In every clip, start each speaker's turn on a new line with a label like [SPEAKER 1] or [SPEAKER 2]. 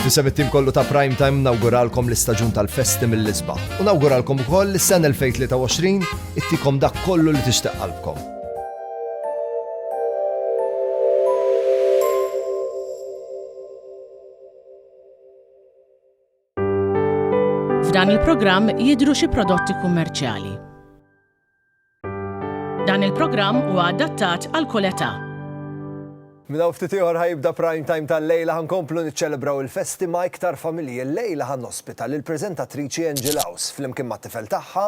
[SPEAKER 1] Fisem it-tim kollu ta' Prime Time nawguralkom l-istaġun tal-festi mill-isbaħ. U nawguralkom ukoll is-sena 2023 ittikom dak kollu li tixtieq qalbkom.
[SPEAKER 2] F'dan il-programm jidhru xi prodotti kummerċjali. Dan il-programm huwa adattat għal kull età.
[SPEAKER 1] Minn hawn ftit ieħor ħa jibda Prime Time tal-lejla, ħa nkomplu niċċelebraw il-festi ma' iktar familji. Illejla ħa nospita lill-preżentatriċi Angie Laus flimkien mat-tifel tagħha,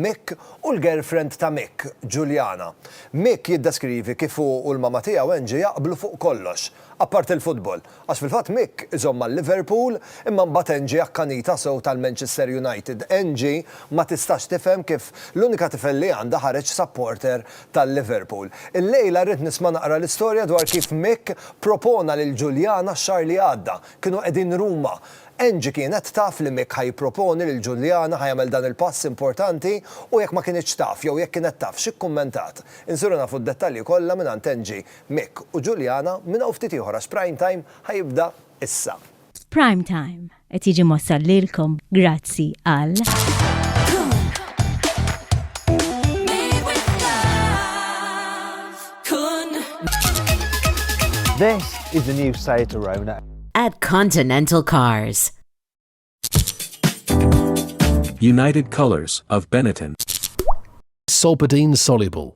[SPEAKER 1] Mick, u l-girlfriend ta' Mick, Juliana. Mick jiddeskrivi kif hu u l-mama tiegħu Angie jaqblu fuq kollox. Apparti l-futbol, għax fil-fatt Mick iżomm ma' Liverpool imma mbagħad Angie akkanitha sew tal-Manchester United. Angie ma tistax tifhem kif l-unika tifel li għandha ħareġ supporter tal-Liverpool. Illejla rrid nisma' naqra l-istorja dwar kif Mick propona lil Juliana x-xahar li għadda. Kienu qegħdin Ruma. Angie kienet taf li Mick ħa jipproponi lil Juliana ħa jagħmel dan il-pass importanti u jekk ma kinitx taf jew jekk kienet taf x'ikkummentat? Insiru nafu d-dettalji kollha mingħand Angie Mick u Juliana minn hawn ftit ieħor għax Prime Time ħa jibda issa. Prime
[SPEAKER 3] Time qed jiġi mwassal lilkom grazzi għal.
[SPEAKER 4] This is the new Seat Arona. At Continental
[SPEAKER 5] Cars.
[SPEAKER 6] United Colors of Benetton.
[SPEAKER 7] Solpadeine soluble.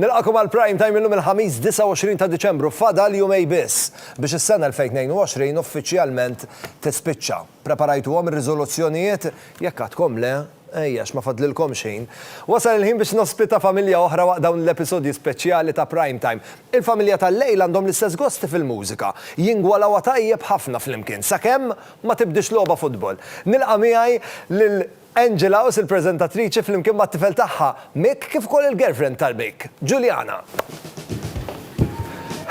[SPEAKER 1] Nilqagħkom għal Prime Time illum il-Ħamis 29 ta' Diċembru, fadal jumej biss biex is-sena 2022 uffiċjalment tispiċċa. Preparajtuhom ir-riżoluzzjonijiet? Jekk għadkom le, ejjex ma fadlilkomx ħin. Wasal il-ħin biex nospita familja oħra waqt dawn l-episodji speċjali ta' Prime Time. Il-familja tal-lejl għandhom l-istess gosti fil-mużika, jingwalawha tajjeb ħafna flimkien sakemm ma tibdix logħba futbol. Nilqa' miegħi lil Angela Aus il-preżentatriċi flimkien mat-tifel tagħha, Mick kif ukoll il-girlfriend tal-Mick, Juliana.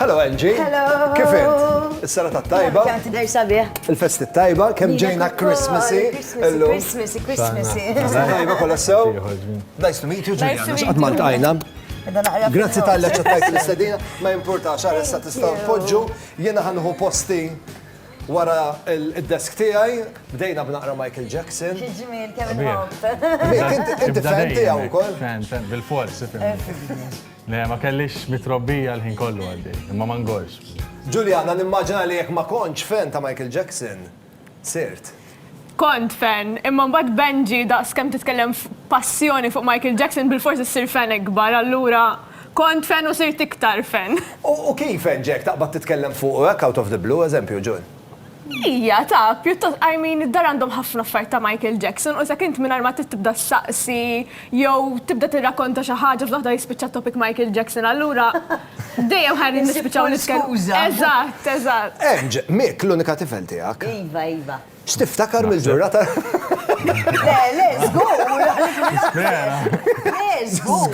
[SPEAKER 1] Hello Angie. Hello. Kif int? Is-serata t-tajba? Kemm tidher sabiħ.
[SPEAKER 8] Il-festi t-tajba,
[SPEAKER 1] kemm ġejna Christmasy. Illum.
[SPEAKER 8] Christmasy, Christmasy. Tajba
[SPEAKER 1] kollha sew. Nice to meet you Juliana. X'qatt ma ltqajna. Grazzi tal-li ċettajt l-istedina, ma importax għara sa tistaw tpoġġu, jena ħanħu posti Wara id-desk tiegħi bdejna b'naqra Michael Jackson. Xi
[SPEAKER 8] ġmiel kemm inħobb. Inti
[SPEAKER 1] fan tiegħu wkoll? Fan, fan, bil-fors.
[SPEAKER 9] Le, ma kellix mitrobbija l-ħin kollu għaddi, imma ma ngorx. Ġuljana, nimmaġina
[SPEAKER 1] li jekk ma kontx fan ta' Michael Jackson, sirt. Kont
[SPEAKER 10] fan, imma mbagħad Benji daqs kemm titkellem b'passjoni fuq Michael Jackson bilfors issir fan ikbar, allura kont fan u sirt iktar fan. U kif hekk
[SPEAKER 1] ġejk taqbad titkellem fuqu hekk out of the blue, eżempju, June? Hija,
[SPEAKER 10] taf, pjuttost, I mean, id-dar għandhom ħafna affarijiet ta' Michael Jackson u s'hekk int mingħajr ma trid tibda ssaqsi jew tibda tirrakonta xi ħaġa fl-waħda jispiċċa t-topic Michael Jackson, allura Dejjem ħajn nispiċċaw nitkellmu. Eżatt, eżatt. Emġ, Mick,
[SPEAKER 1] l-unika tifel tiegħek. Iva, iva.
[SPEAKER 8] X'tiftakar
[SPEAKER 1] mill-ġurnata? Le,
[SPEAKER 8] le, żgur. Le, żgur.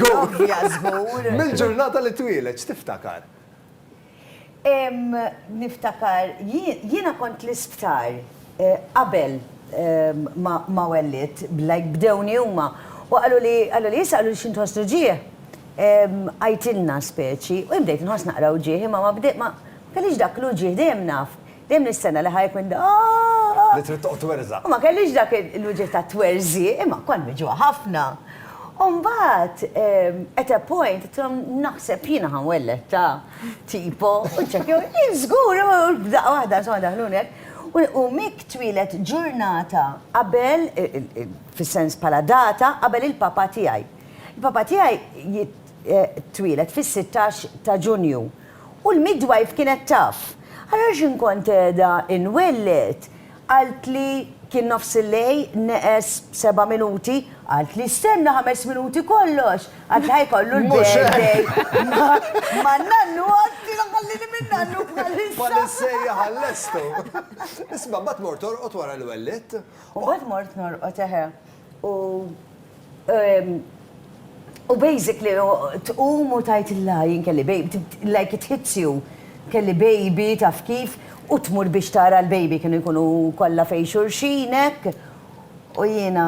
[SPEAKER 8] Żgur. Mill-ġurnata li twieled,
[SPEAKER 1] x'tiftakar?
[SPEAKER 8] Niftakar, jiena kont l-isptar. qabel ma wellidt, like bdewni huma, u qalu li, qalu li, issa qalu li xi nħosslu ġieħ, għidtilna speċi, u jien bdejt inħoss naqra wġigħ, imma ma bdejt ma, ma kellix dak l-uġigħ, dejjem naf, dejjem nistenna li ħa jekk minn daa. Li trid
[SPEAKER 1] toqgħod twerżaq. U ma kellix dak
[SPEAKER 8] l-uġigħ tat-twerżiq, imma kont miġugħa ħafna. U mbagħad at a point għidtilhom naħseb jiena ħa nwelled ta' tipo, u ċċekkjaw, ih żgur, u f'daqqa waħda insomma daħluni hekk. U Mick twieled ġurnata qabel, fis-sens bħala data, qabel il-papa tiegħi. Il-papa tiegħi twieled fis-sittax ta' Ġunju. U l-midwife kienet taf. Allura x'in kont qiegħda inwelled, qaltli, kien nofsillejl, neqes seba' minuti, qaltli stenna ħames minuti kollox! Għax ħajkollu l-birthday. Ma nannu għatti għallini minn nannu bħalissa. Bħalissejja għall-estu.
[SPEAKER 1] Isma, bat mort orqot wara l-wellit. U bat mort
[SPEAKER 8] norqot eħe. U. Ehm, u basically, tqum u tajt il-la jien kelli baby, like it hits you. Kelli baby taf kif, u tmur biex tara l-baby kienu jkunu kollha fej xurxinek. U jiena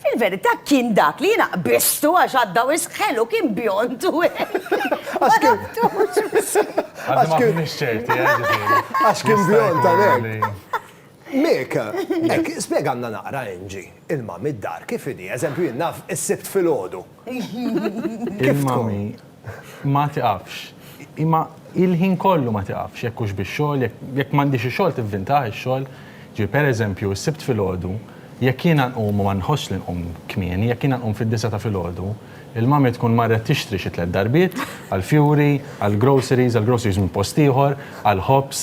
[SPEAKER 8] Fil-verità kien dak li jiena qbiżtu għax għadda wisq ħelu, kien bjond u Ma naftux. Għadna
[SPEAKER 9] ma kinniex ċerti, eh, ġifieri. Għax kien
[SPEAKER 1] bjond għalhekk. Mick, hekk, spjegalna naqra Angie, il-mami d-dar kif inhi? Eżempju, jien naf is-Sibt filgħodu.
[SPEAKER 9] Il-mommy ma tiqafx. Imma hi l-ħin kollu ma tiqafx, jekk hux bix-xogħol, jekk m'għandhiex xi xogħol tivvintah ix-xogħol. Ġifieri pereżempju s-Sibt filgħodu, jekk jiena nqum u ma nħossx li nqum kmieni, jekk jiena nqum fid-disgħa ta' filgħodu, il-mommy tkun marret tixtri xi tliet darbiet, għall-fjuri, għall-groceries, għall-groceries minn post ieħor, għall-ħobż,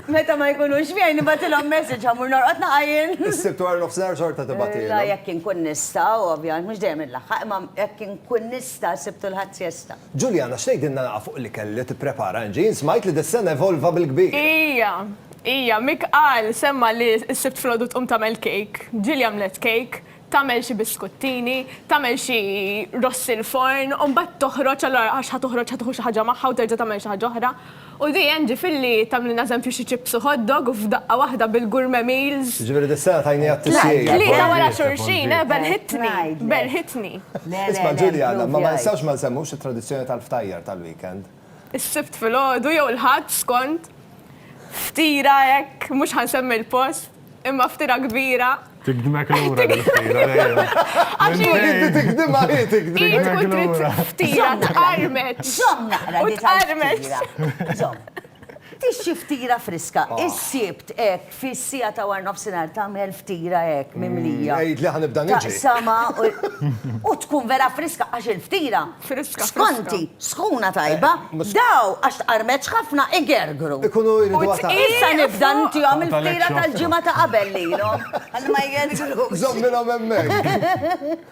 [SPEAKER 8] Meta ma jkunux miegħi nibgħatilhom message ħa mmur norqod naqa' jien. Is-Sibt wara nofsinhar
[SPEAKER 1] xorta tibgħatilhom. La jekk inkun nista',
[SPEAKER 8] ovvjament, mhux dejjem inlaħħaq, imma jekk inkun nista' s-Sibt u l-Ħadd siesta. Juliana, x'tgħidilna
[SPEAKER 1] naqa' fuq l-ikel li tipprepara Angie? Jien smajt li dis-sena evolva bil-kbir. Ija,
[SPEAKER 10] ija, Mick qal, semma' li s-Sibt filgħodu tqum tagħmel cake. Ġieli għamlet cake. tagħmel xi biskuttini, tagħmel xi ross il-forn u mbagħad toħroġ allura għax ħa toħroġ ħa tieħu xi ħaġa magħha u terġa' tagħmel xi ħaġa oħra. U di hemm ġifieri tagħmlilna eżempju xi chips u hot dog u f'daqqa waħda bil-gourmet meals. Jiġifieri dis-sena tajniha
[SPEAKER 1] t-tisjir. Tlieta wara xulxin,
[SPEAKER 10] eh, belħitni, belħitni. Isma'
[SPEAKER 1] Ġuljana, imma ma nistgħux ma nsemmux it-tradizzjoni tal-ftajjar tal-weekend. is-Sibt
[SPEAKER 10] filgħodu jew il-Ħadd skont ftira hekk, mhux ħa nsemmi l-post, imma ftira kbira. Tikdmek lura
[SPEAKER 9] l-ftira dejjem. Għax inti tikdimha hi
[SPEAKER 1] tikdimha. Hi tkun trid
[SPEAKER 10] ftira tqarmet. Żomm naqra li
[SPEAKER 8] tqarmet.
[SPEAKER 10] Żomm.
[SPEAKER 8] Tixxi ftira friska, is-Sibt hekk. Fis-siegħa ta' warnofsinhar tagħmel ftira hekk mimlija. Għidli ħa nibda niġri.
[SPEAKER 1] Taqsama
[SPEAKER 8] u tkun vera friska għax il-ftira. Friska. Skonti, sħuna tajba, daw għax tqarmetx ħafna igergru. Ikunu jridu għatgħar.
[SPEAKER 1] Issa nibda ntihom
[SPEAKER 8] il-ftira tal-ġimgħa ta' qabel lilhom. Ħalli ma jgergrux. Żommilhom hemmhekk.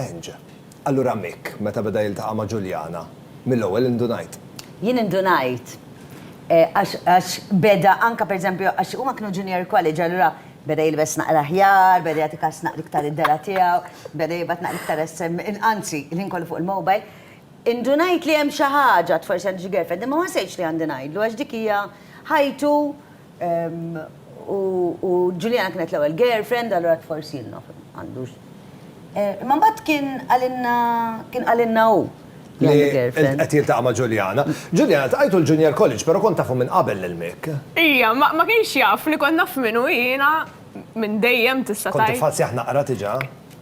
[SPEAKER 1] Eng. Allura Mick meta beda jiltaqa' ma' Ġuljana, mill-ewwel indunajt. Jien indunajt.
[SPEAKER 8] Għax, għax beda anke per eżempju, għax huma kienu junior college, allura beda jilbes naqra aħjar, beda jagħti kas naqra iktar id-dela' tiegħu, beda jibgħat naqra iktar sms, in, anzi, il-ħin kollu fuq il-mobile. Indunajt li hemm xi ħaġa, forsi għandu xi girlfriend, imma ma ħsejtx li għandi ngħidlu għax dik hija ħajtu, U Juliana kienet l-ewwel girlfriend, allura forsi naf għandux. Imma mbagħad kien għalinna kien għalinna hu.
[SPEAKER 1] Qed jiltaqa' ma' Juliana. Juliana tqajtu l-Junior College, però kont tafu minn qabel lil Mick. Ija, ma
[SPEAKER 10] kienx jaf li kont naf minnu jiena minn dejjem tista' tgħid. Kont tiffazzjah naqra
[SPEAKER 1] diġà?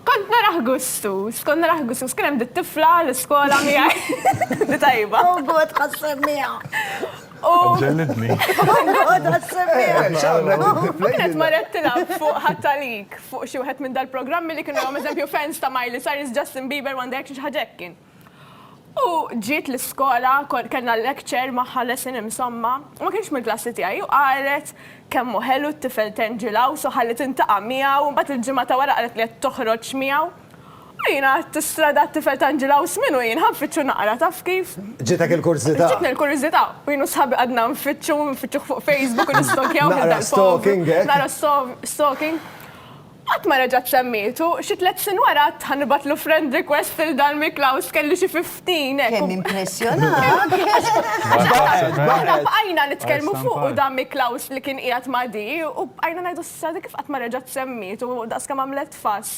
[SPEAKER 1] Kont narah
[SPEAKER 10] gustus, kont narah gustus. Kien hemm dit-tifla l-iskola miegħi, di tajba. Oh God, ħa ssemmiha.
[SPEAKER 9] Ġellidni.
[SPEAKER 10] Għada s-semmiħ. Kienet marret tilab fuq ħattalik, fuq xi wieħed minn dal-programmi li kienu għom eżempju fans ta' Miley Cyrus, Justin Bieber, One Direction, ħagġekkin. U ġiet l-iskola, kellna lecture maħħa lesson insomma, ma kienx mill-klassi tiegħi u qalet kemmu ħelu t-tifel Tangel House u ħalli tintaqa' miegħu, mbagħad il-ġimgħa ta' wara qalet li qed toħroġ miegħu. U jiena għadt istrada għat-tifel ta' Anġi Laws minnu jien, ħa nfittxu naqra, taf kif? Ġitek il-kurżità?
[SPEAKER 1] Ġietni l-kurżità,
[SPEAKER 10] u jien u sħabi qgħadna nfittxu, nfittxuh fuq Facebook u
[SPEAKER 1] nistokjaw
[SPEAKER 10] minn dal-povru. Naqra stalking, hekk? Naqra stalking. Qatt ma reġgħet semmietu, xi tliet snin wara għadt ħa nibgħatlu friend request lil dan Mick Laws, kelli xi fifteen, hekk. Kemm
[SPEAKER 8] impressjonat!
[SPEAKER 10] Aħna bqajna nitkellmu fuq u dan Mick Laws li kien qiegħed ma' Dee, u bqajna ngħidu, 'S'issa Dee kif qatt ma reġgħet semmietu, daqs kemm għamlet fuss.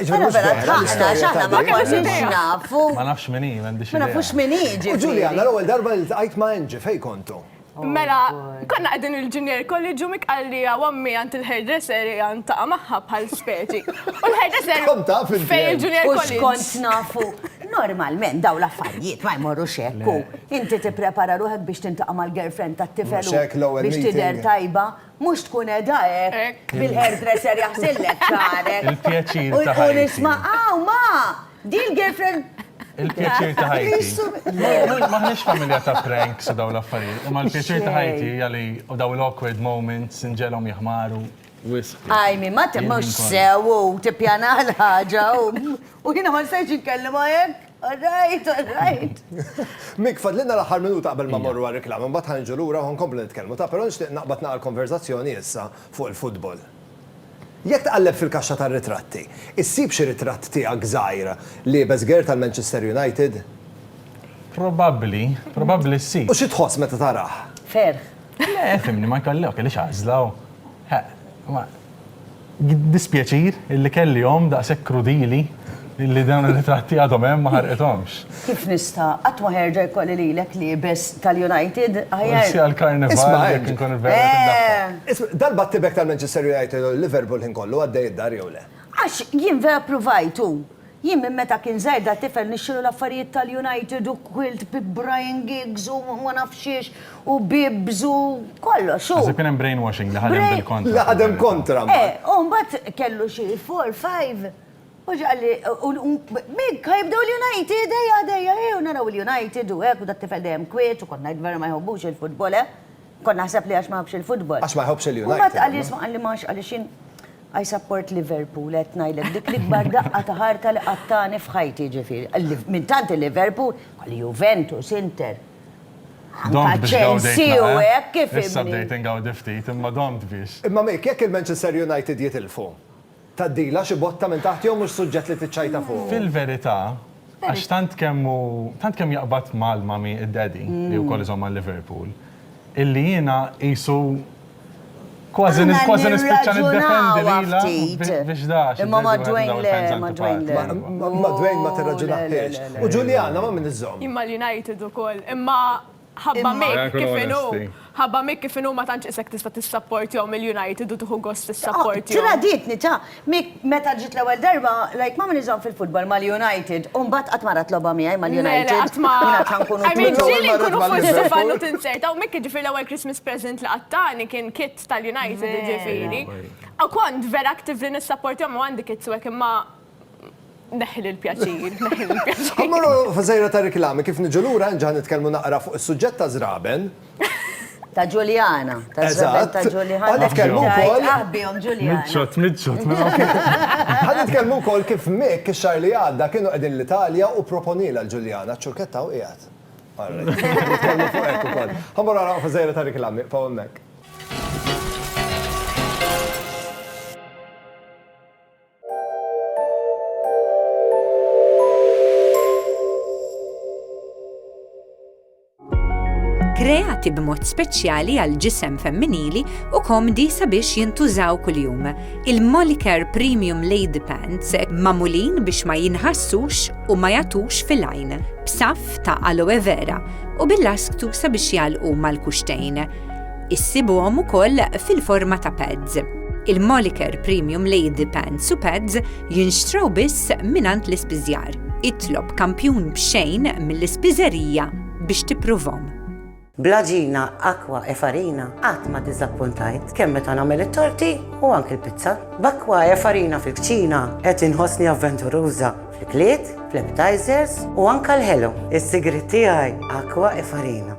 [SPEAKER 10] Jiġifieri mhux vera l-istorja
[SPEAKER 8] ta' din. Ma konniex nafu. Ma nafx min hi, m'għandix
[SPEAKER 9] idea. Ma nafux min hi, ġifieri.
[SPEAKER 8] U Ġuljana, l-ewwel darba
[SPEAKER 1] li ltqajt ma' Angie, fejn kontu? Mela,
[SPEAKER 10] konna qegħdin il-junior college u Mick qalli hawn ommi għand il-hairdresser ejja niltaqa' magħha bħal speċi. U l-hairdresser Kont taf inti. fejn il-junior college. U x'kont nafu?
[SPEAKER 8] Normalment dawn l-affarijiet ma jmorrux hekk u inti tipprepara ruħek biex tintaqa' mal-girlfriend tat-tifel u biex tidher tajba Mhux tkun qiegħda hekk bil-hairdresser jaħsillek xagħrek. Il-pjaċir ta' ħajti. U
[SPEAKER 9] nisma' hawn ma!
[SPEAKER 8] Di l-girlfriend Il-pjaċir ta'
[SPEAKER 9] ħajti. M'aħniex familja ta' pranks u dawn l-affarijiet, imma l-pjaċir ta' ħajti hija li dawn l-awkward moments inġegħlhom jihmaru wisq. Ajmi,
[SPEAKER 8] ma temmux sew u tippjana l-ħaġa u jiena ma stajtx inkellimha hekk. All right, all right. Mick,
[SPEAKER 1] fadlilna l-aħħar minuta qabel ma mmorru għar-riklama, mbagħad ħa niġu lura u ħa nkomplu nitkellmu. Ta' però nixtieq naqbad nagħlaq il-konverżazzjoni issa fuq il-futbol. Jekk tqalleb fil-kaxxa tar-ritratti, issib xi ritratt tiegħek żgħir liebes gear tal-Manchester United?
[SPEAKER 9] Probabbli, probabbli ssib. U xi tħoss meta
[SPEAKER 1] tarah? Ferħ.
[SPEAKER 8] Le, fhimni,
[SPEAKER 9] ma jkollok, għaliex għażla hu. Ħa, ma. Jiddispjaċir illi kelli omm daqshekk krudili illi dawn ir-ritratti għadhom hemm ma ħarqithomx. Kif nista'?
[SPEAKER 8] Qatt ma ħerġa' jkolli lilek liebes tal-United aħjar. Forsi
[SPEAKER 9] għall-Karnival jekk inkun inverret id-daffa. Isma', dal-battibek
[SPEAKER 1] tal-Manchester United u l-Liverpool ħin kollu għaddej id-dar jew le? Għax jien vera
[SPEAKER 8] ppruvajt u Jien minn meta kien żgħir da tifel nixxilu l-affarijiet tal-United u quilt bi Brian Giggs u ma nafx xiex u bibs u kollox u. Naħseb kien hemm brainwashing
[SPEAKER 9] li ħadem bil-kontra. Li ħadem kontra
[SPEAKER 1] mbagħad. Eh, u mbagħad
[SPEAKER 8] kellu xi four, five u ġie qalli u b'hekk ħa jibdew l-United, ejja dejja, ejja u naraw il-United u hekk u da tifel dejjem kwiet u kont ngħid vera ma jħobbux il-futbol, eh. Kon naħseb li għax ma jħobx il-futbol. Għax ma jħobx il-United. Mbagħad
[SPEAKER 1] għal jisma' għalli ma għax
[SPEAKER 8] għaliex jien I support Liverpool, qed ngħidlek dik l-ikbar daqqa ta' ħarta li qattani f'ħajti ġifieri. Minn tant il-Liverpool, għal Juventus, Inter. Domt Chelsea u eh? hekk kif. Issa bdejt ingawdi
[SPEAKER 9] ftit, imma domt biex. Imma mek, jekk il-Manchester
[SPEAKER 1] United jitilfu, Tgħaddilha xi botta minn taħt jew mhux suġġett li tiċċajta fuqu? Fil-verità,
[SPEAKER 9] għax tant kemm hu, tant kemm jaqbad mal-mummy id-daddy, li wkoll iżomm ma' Liverpool, illi jiena qisu kważi kważi nispiċċa niddefendi lilha biex da għax id-daddy wieħed minn dawn il-fans
[SPEAKER 8] antipatiċi.
[SPEAKER 1] Ma' Dwayne ma tirraġunahiex. U Juliana ma' min iżżomm? Jien mal-United ukoll,
[SPEAKER 10] imma Ħabba Mick kif inhu, ħabba Mick kif inhu ma tantx isek tista' tissapportjhom il-United u tieħu gost tissapportjhom. Tradietni ta',
[SPEAKER 8] Mick meta ġiet l-ewwel darba, like m'għamilniex dan fil-futbol mal-United u mbagħad qatt ma ra tlogħba miegħi mal-United. Le, le, qatt ma. I mean ġieli nkunu fuq id-divan
[SPEAKER 10] u tinzerta u Mick jiġifieri l-ewwel Christmas present li qatt tani kien kit tal-United jiġifieri. U kont vera actively nissapportjhom u għandi kits u hekk imma, Neħħi l-pjaċir, neħħi l-pjaċir. Ħa
[SPEAKER 1] mmorru f'żejra ta' riklami, kif niġu lura nġa' nitkellmu naqra fuq is-suġġett ta' żraben. Ta'
[SPEAKER 8] Ġuljana, taż-żraben ta' Ġuljana. Eżatt. Ħa nitkellmu wkoll.
[SPEAKER 1] Aħ bihom
[SPEAKER 8] Ġuljana. Miċċot, miċċot.
[SPEAKER 1] Ħa nitkellmu wkoll kif Mick ix-xahar li għadda kienu qegħdin l-Italja u proponielha l-Ġuljana, ċ-ċurkett hawn qiegħed. Ara, nitkellmu fuq hekk ukoll. Ħa mmorru naqraw f'żejra ta' riklami, iqfgħu hemmhekk.
[SPEAKER 11] kreati b'mod speċjali għal ġisem femminili u komdi sabiex jintużaw kuljum. Il-Molicare Premium Lady Pants mamulin biex ma jinħassux u ma jatux fil-għajn, b'saf ta' aloe vera u bil-lasktu sabiex jalqu mal-kuxtejn. Issibuhom ukoll fil-forma ta' pads. Il-Moliker Premium Lady Pants u Pads jinxtraw biss mingħand l-ispiżjar. Itlob kampjun b'xejn mill-ispiżerija biex tippruvhom. Bl-għaġina
[SPEAKER 12] Aqua e Farina qatt ma diżappuntajt, kemm meta nagħmel it-torti u anki l-pizza. B'Aqua e Farina fil-kċina qed inħossni avventuruża fl-ikliet, fl-appetizers u anke l-ħelu. Is-sigriet tiegħi Aqua e Farina.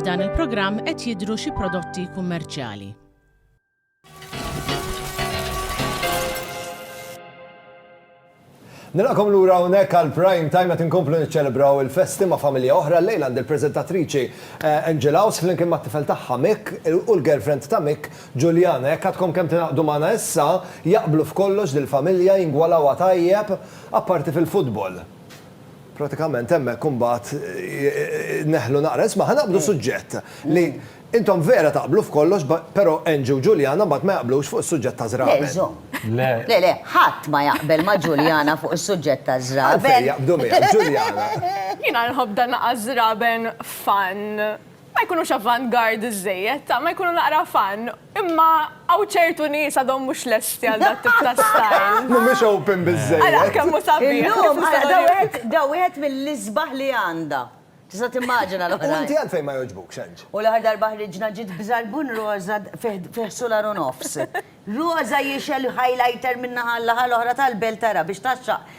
[SPEAKER 2] F'dan il-programm qed jidhru xi prodotti kummerċjali.
[SPEAKER 1] Nilaqom lura hawnhekk għal prime time qed inkomplu niċċelebraw il-festi ma' familja oħra lejl għand il-preżentatriċi eh, Angela House flimkien mat-tifel tagħha Mick u l-girlfriend ta' Mick Ġuljana. Hekk għadkom kemm tingħaqdu magħna issa jaqblu f'kollox dil-familja jingwalawha tajjeb apparti fil-futbol. Pratikament hemmhekk imbagħad neħlu naqra. Isma' ħa naqbdu suġġett li intom vera taqblu f'kollox però Angie u Juliana mbagħad ma jaqblux fuq is-suġġett ta' żraben. Le żomm. Le. Le le,
[SPEAKER 8] ħadd ma jaqbel ma' Juliana fuq is-suġġett ta' żraben. Għalfejn jaqbdu miegħek,
[SPEAKER 1] Juliana? Jiena nħobb
[SPEAKER 10] dan naqas żraben fun. Ma jkunux avant-garde żżejjed, ta' ma jkunu naqra fun. Imma hawn ċertu nies għadhom mhux lesti għal dat tip ta' style. Mhumiex open
[SPEAKER 1] biżżejjed. Ara kemm hu sabiħ.
[SPEAKER 10] Illum, ara, da wieħed, da
[SPEAKER 8] wieħed mill-isbaħ li għandha. Tista' timmaġina l-oħrajn. U inti għalfejn ma jogħġbukx,
[SPEAKER 1] Ange? U l-aħħar darba ħriġna
[SPEAKER 8] ġiet b'żarbun roża fih, fih sular u nofs. Roża jixgħel highlighter minn naħa għal-naħa l-oħra tal-belt ara biex tgħaxxaq.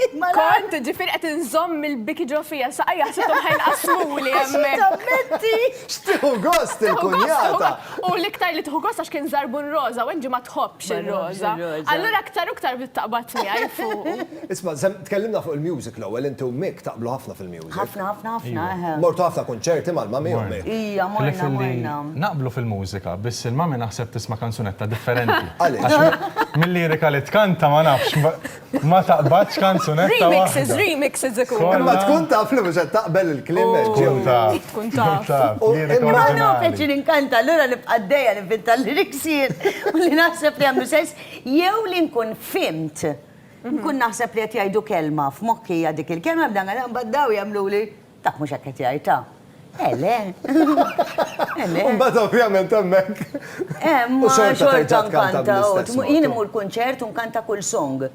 [SPEAKER 8] Kont, ġifieri
[SPEAKER 10] qed inżomm il-biki ġo fija, saqajja ħsibthom ħa jinqasmuli hemmhekk. X'tieħu
[SPEAKER 1] gost il-kunjata! U l-iktar li
[SPEAKER 10] tieħu gost għax kien żarbun roża u Angie ma tħobbx ir-roża. Allura aktar u aktar bdiet taqbad miegħi fuqu. Isma',
[SPEAKER 1] tkellimna fuq il-music l-ewwel, inti u Mick taqblu ħafna fil-music. Ħafna, ħafna, ħafna, eħe.
[SPEAKER 8] Mortu ħafna kunċerti
[SPEAKER 1] mal-mummy u Mick. Ija, morna, morna.
[SPEAKER 8] Naqblu fil-mużika,
[SPEAKER 9] biss il-mummy naħseb tisma' kanzunetta differenti. Għaliex? Għax mil-lirika li tkanta ma nafx. Ma taqbadx kanzunetta waħda. Remixes, remixes
[SPEAKER 10] ikunu. Imma tkun taf li mhux
[SPEAKER 1] qed taqbel il-kliem hekk ġew. Tkun taf. Tkun
[SPEAKER 10] taf. Imma hu
[SPEAKER 8] kapaċi li nkanta allura nibqa' għaddejja ninventa l-lyrics jien u li naħseb li jagħmlu sens jew li nkun fhimt. Nkun naħseb li qed jgħidu kelma f'moħħi hija dik il-kelma bda ngħidha mbagħad dawn jagħmluli Dak mhux hekk qed jgħid, ta? Eh le. Eh
[SPEAKER 1] le. Imbagħad ovvjament hemmhekk. Eh, ma
[SPEAKER 8] xorta nkanta.
[SPEAKER 1] Jien immur kunċert u
[SPEAKER 8] nkanta kull song.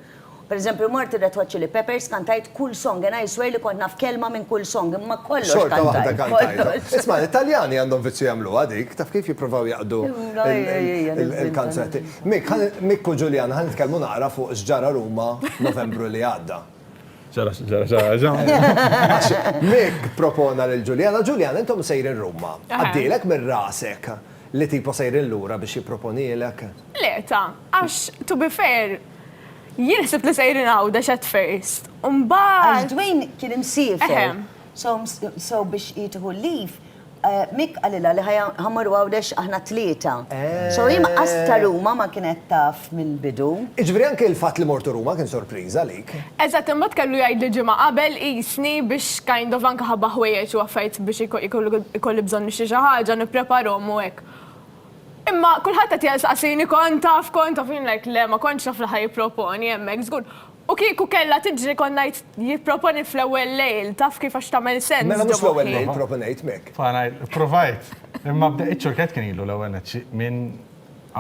[SPEAKER 8] Per eżempju, mort ir-Red Hot Chili Peppers kantajt kull song, and I swear li kont naf kelma minn kull song, imma kollox. Xorta waħda kantajt.
[SPEAKER 1] Isma,
[SPEAKER 8] l-Italjani
[SPEAKER 1] għandhom viċċi jagħmlu għadik, taf kif jippruvaw jaqdu il-kanzetti. Mik, Mik u Ġuljan, ħan nitkellmu naqra fuq x'ġara Ruma Novembru li għadda. Zara, zara, zara, zara. Mek propona lil Ġuljana, Ġuljana, intom sejrin Ruma. Għaddilek minn rasek li tipo sejrin lura biex jipproponilek? Le, ta,
[SPEAKER 10] għax to be fair, jien ħsibt li sejrin Għawdex at first. Għax
[SPEAKER 8] Dwayne kien imsiefer. So biex jitħu leave, Mick qalilha li ħa mmorru Għawdex aħna t-tlieta. So hi mqas ta' Ruma ma kienet taf mill-bidu. Jiġifieri anke l-fatt
[SPEAKER 1] li mortu Ruma kien sorpriża għalik. Eżatt, imbagħad kellu
[SPEAKER 10] jgħidli ġimgħa qabel qisni biex kind of anke ħabba ħwejjeġ u affarijiet biex ikolli bżonn nixtri xi ħaġa nippreparhom u hekk. Imma kulħadd qed jistaqsini kont taf kont taf u jien like le ma kontx naf li ħa jipproponi hemmhekk żgur. U kieku kellha tiġri kont ngħid jipproponi fl-ewwel lejl, taf kif għax tagħmel sens. Mela mhux fl-ewwel lejl
[SPEAKER 1] proponejt m'hekk. Provajt,
[SPEAKER 9] imma bda iċ-ċurkett kien ilu l-ewwel nett xi minn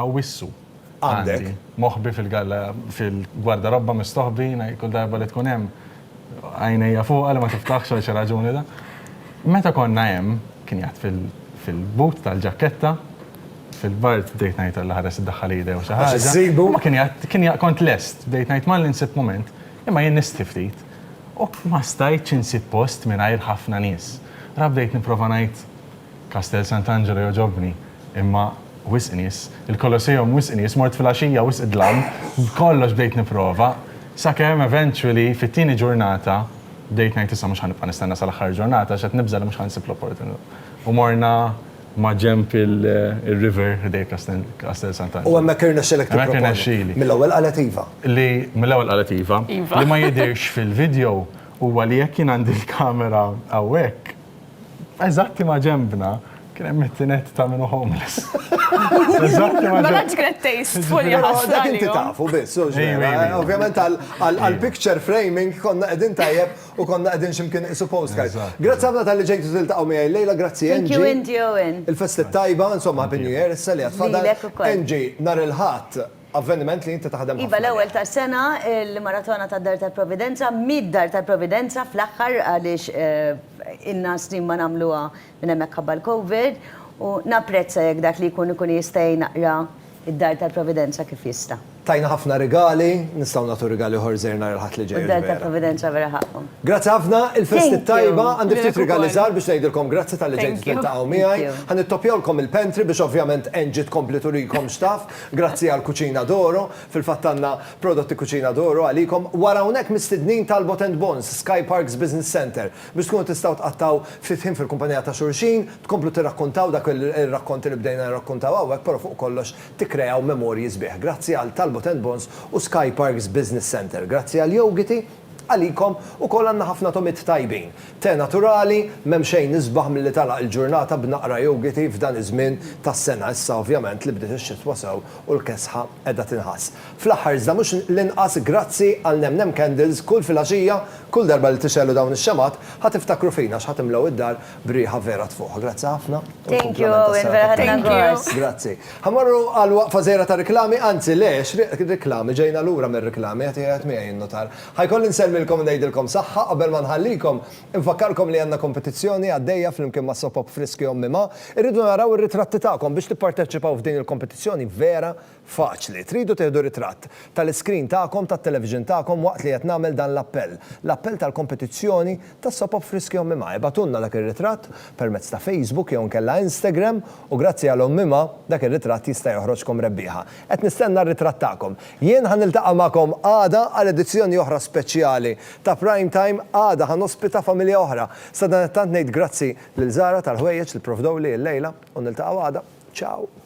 [SPEAKER 9] Awwissu. Għandi.
[SPEAKER 1] Moħbi fil-galla
[SPEAKER 9] fil-gwardarobba mistoħbi, kull darba li tkun hemm għajnejja fuqha li ma tiftaħx għal xi raġuni da. Meta konna hemm, kien jgħadd fil-but tal-ġakketta, Fil-bard bdejt ngħid Alla ħares iddaħħal idea u xi ħaġa. U ma kien jgħid, kien jgħid kont lest, bdejt ngħid malli nsib mument, imma jien nistħi ftit. U ma stajtx insib post mingħajr ħafna nies. Ra bdejt nipprova ngħid Kastell Sant'Angelo jogħġobni, imma wisq nies, il-Kolosseum wisq nies, mort filgħaxija wisq dlam, b'kollox bdejt nipprova, sakemm eventually fit-tieni ġurnata bdejt ngħid issa mhux ħa nibqa' nistenna sal-aħħar ġurnata għax qed nibża' li mhux ħa nsib l-opportunità. U morna maġenb ir-river ħdejn Castel Sant'Angelo. U hemmhekk irnexxilek tipproponi.
[SPEAKER 1] Hemmhekk irnexxieli. Mill-ewwel qalet iva. Li mill-ewwel qalet
[SPEAKER 9] iva. Iva. Li ma jidhirx fil-video huwa li jekk jien għandi l-kamera hawnhekk, eżatti maġenbna, kien hemm it-tined ta' min hu homeless. Eżatti maġenbna. Mela ġrat taste
[SPEAKER 10] full jew ħaġa. Dak inti tafu biss,
[SPEAKER 1] u x'ġara. Ovvjament għall-picture framing konna qegħdin tajjeb. U konna qegħdin x'imkien qisu postcard. Grazzi ħafna talli ġejtu tiltaqgħu miegħi llejla, grazzi Angie. Thank you Angie Owen.
[SPEAKER 8] Il-festi t-tajba, insomma
[SPEAKER 1] happy new year issa li għad fadal. Lilek ukoll. Angie, nhar il-Ħadd avveniment li inti taħdem ħafna. Iva l-ewwel tas-sena
[SPEAKER 8] l-Maratona tad-Dar tal-Providenza, mid-Dar tal-Providenza fl-aħħar għaliex ilna snin ma nagħmluha Minn hemmhekk ħabba l-Covid u napprezza jekk dak li jkun ikun jista' jgħin aqra d-Dar tal-Providenza kif jista'. Tajna ħafna rigali,
[SPEAKER 1] nistgħu nagħtu rigali oħor żgħir nhar il-Ħadd li ġej. U d-Dar tal-Providenza vera
[SPEAKER 8] ħaqqhom. Grazzi ħafna,
[SPEAKER 1] il-festi t-tajba, għandi ftit rigali żgħar biex ngħidilkom grazzi talli ġejtu tiltaqgħu miegħi. Ħa nittoppjawlkom il-pantry biex ovvjament Angie tkompli turikom x'taf. Grazzi għal Cucina d'Oro, fil-fatt għandna prodotti Cucina d'Oro għalikom. Wara hawnhekk mistednin Talbot and Bones, Sky Parks Business Centre. biex tkunu tistgħu tqattgħu fifhim fil-kumpanija ta' xulxin, tkomplu tirrakkuntaw dak ir-rakkonti li bdejna nirrakkuntaw hawnhekk però fuq kollox tikkreaw memorji sbieħ. Grazzi għal Talbot and Bonds u Sky Parks Business Centre. Grazzi għal Yogiti, għalikom ukoll għandna ħafna tomiet tajbin. Te naturali, m'hemm xejn isbaħ milli tagħlaq il-ġurnata b'naqra yogiti f'dan iż-żmien tas-sena, issa ovvjament li bdiet ix-xitwa sew u l-kesħa qiegħda tinħass. Fl-aħħar iżda mhux l-inqas grazzi għal Nemnem Candles kull filgħaxija, kull darba li tixegħlu dawn ix-xemgħat ħa tiftakru fina għax ħa timlew id-dar b'riħa vera tfuħ. Grazzi ħafna u Thank you l-kumplament Owen,
[SPEAKER 8] vera tas-serata ħadna tajba. gost. Grazzi. Ħa mmorru
[SPEAKER 1] għal waqfa żgħira ta' riklami, anzi le, x'riq riklami, ġejna lura mir-riklami, qed jgħid miegħi n-nutar. Ħa jkolli nsellmilkom u ngħidilkom saħħa qabel ma nħallikom. Infakkarkom li għandna kompetizzjoni għaddejja flimkien ma' Soap Up Friski Ommi Ma. Irridu naraw ir-ritratti tagħkom biex tipparteċipaw f'din il-kompetizzjoni vera Faċli. Tridu tieħdu ritratt tal-iskrin tagħkom tat-television tagħkom waqt li qed nagħmel dan l-appell, l-appell tal-kompetizzjoni tas-sopop friski Ommi Ma. Ibgħatulna dak ir-ritratt permezz ta' Facebook jew inkella Instagram u grazzi għal Ommi Ma dak ir-ritratt jista' joħroġkom rebbieħa. Qed nistenna r-ritratt tagħkom. Jien ħa niltaqa' magħkom għada għal edizzjoni oħra speċjali ta' Prime Time. Għada ħa nospita familja oħra. Sadanittant ngħid grazzi lil Zara tal-ħwejjeġ li pprovdewli illejla u niltaqgħu għada. Ciao!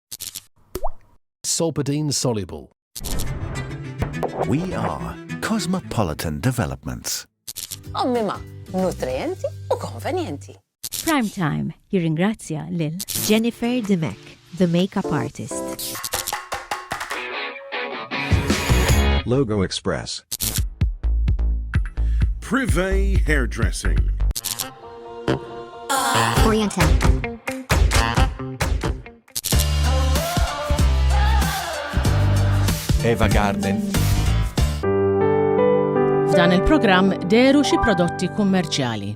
[SPEAKER 7] Solpadeine soluble.
[SPEAKER 13] We are Cosmopolitan Developments. Ommima,
[SPEAKER 14] nutrienti u konvenjenti. Prime Time
[SPEAKER 3] jirringrazzja lil Jennifer Dimech,
[SPEAKER 15] the makeup artist.
[SPEAKER 16] Logo Express.
[SPEAKER 17] Privé Hairdressing.
[SPEAKER 16] Eva Garden.
[SPEAKER 2] F'dan il-programm deru xi prodotti kummerċjali.